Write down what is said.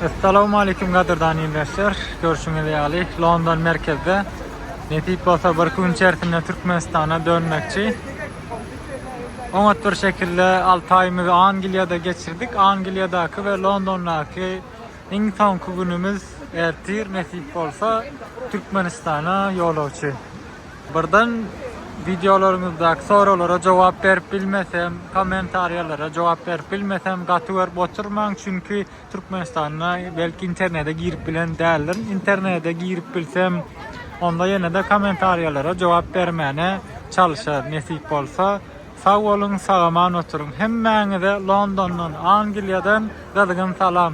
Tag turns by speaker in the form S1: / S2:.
S1: Essalowmalikim gadyrdan ildeşler. Görşüňiz ýaly London merkezde nesip bolsa bir iki gün içerisinde Türkmenistana dönmekçi. Oňat bir şekilde 6 aýymyzy Angliýada geçirdik. Angliýadaky we Londondaky iň soňky günümiz ertir nesip bolsa Türkmenistana ýolagçy. Birden wideolaryňyzdaky soraglara jogap berip bilmesem, kommentariýalara jogap berip bilmesem gaty görüp oturmaň, çünki Türkmenistanda belki internete girip bilen däldirin. Internete girip bilsem, onda ýene-de kommentariýalara jogap bermäne çalyşaryn nesip bolsa. Sag boluň, sag-aman oturyň. Hemmäňize Londondan, Angliýadan gyzgyn salam.